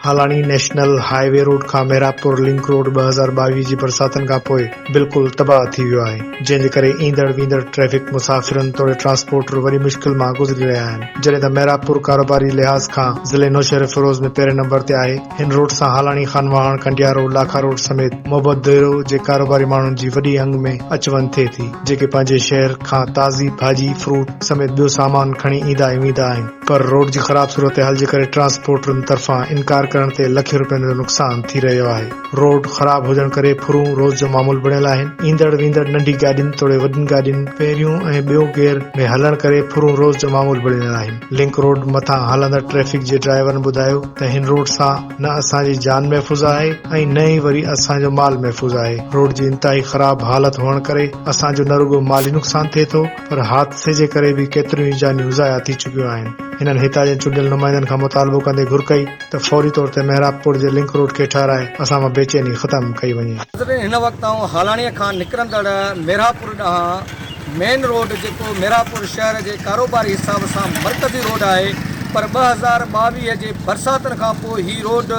Halani national highway road کان Mehrabpur link road ٻه هزار ٻاويهه جي برساتن کان پوء بلڪل تباهه ٿي ويو آهي جنهن جي ڪري ايندڙ ويندڙ ٽريفڪ مسافرن توڙي ٽرانسپورٽر وڏي مشڪل مان گذري رهيا آهن جڏهن ته محرابپور ڪاروباري لحاظ کان ضلعي نوشهروفيروز ۾ پهرين نمبر تي آهي هن روڊ سان هالاڻي، خان واهڻ، ڪنڊيارو، لاکا روڊ سميت محبت ديرو جي ڪاروباري ماڻهن جي وڏي انگ ۾ اچ وڃ ٿئي ٿي، جيڪي پنهنجي شهر کان تازي ڀاڄي، فروٽ سميت ٻيو سامان کڻي ايندا ۽ ويندا آهن، پر روڊ جي خراب صورتحال جي ڪري ٽرانسپورٽرن طرفان انڪار ڪرڻ تي لکين روپين جو نقصان ٿي رهيو آهي، روڊ خراب هجڻ ڪري ڦرون روز جو معمول بڻيل آهن، ايندڙ ويندڙ ننڍي گاڏين توڙي وڏين گاڏين پهريون ۽ ٻيو گيئر ۾ هلڻ ڪري ڦرون روز جو معمول بڻيل آهن، لنڪ روڊ مٿان هلندڙ ٽريفڪ جي ڊرائيورن ٻڌايو. ته هن روڊ سان نه اسان جي جان محفوظ آهي ۽ نه ئي وري اسان جو مال محفوظ آهي، روڊ جي انتهائي خراب حالت هئڻ ڪري اسان جو نه رڳو مالي نقصان ٿئي ٿو پر حادثي جي ڪري به ڪيتريون ئي جانيون ضايع ٿي چڪيون آهن، هنن هتان جي چونڊيل نمائندن کان مطالبو ڪندي گهر ڪئي ته فوري طور تي محراب پور جي لنڪ روڊ کي ٺهرائي اسان مان بيچيني ختم ڪئي وڃي. ناظرين هن وقت آئون هالاڻيء کان نڪرندڙ محراب پور ڏانهن. مين روڊ جيڪو ميرانپور شهر جي ڪاروباري حساب سان مرڪزي روڊ آهي پر ٻه هزار ٻاويهه جي برساتن کان پوء هي روڊ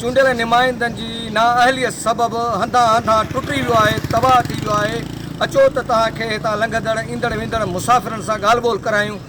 چونڊيل نمائندن جي نااهليت سبب هنڌان هنڌان ٽٽي ويو آهي تباهه ٿي ويو آهي اچو ته توهان کي هتان لنگهندڙ ايندڙ ويندڙ مسافرن سان ڳالهه ٻولهه ڪرايون.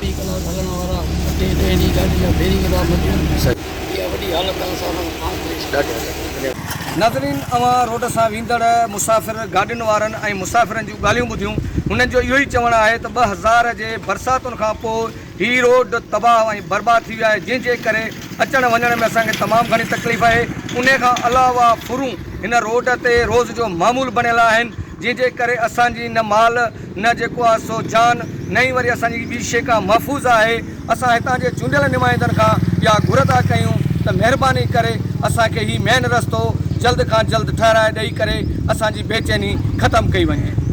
ٽي ڪلاس هلڻ وارا ٽي ٽي جي گاڏي جا بيرنگ ٿا مٽين اها وڏي حالت آهي اسان سان ڪانه ٿئي سگهي. ناظرين اوهان روڊ سان ويندڙ مسافر گاڏين وارن ۽ مسافرن جون ڳالهيون ٻڌيون هنن جو اهو ئي چوڻ آهي ته ٻه هزار جي برساتن کان پوء هي روڊ تباهه ۽ برباد ٿي ويو آهي جنهن جي ڪري اچڻ وڃڻ ۾ اسان کي تمام گهڻي تڪليف آهي انهي کان علاوه ڦرون هن روڊ تي روز جو معمول بڻيل آهن جنهن جي ڪري اسان جي نه مال نه جيڪو آهي سو جان، نه ئي وري اسان جي ٻي شيء ڪا محفوظ آهي. اسان هتان جي چونڊيل نمائندن کان اها گهر ٿا ڪيون ته مهرباني ڪري اسان کي هي مين رستو جلد کان جلد ٺهرائي ڏئي ڪري اسان جي بيچيني ختم ڪئي وڃي.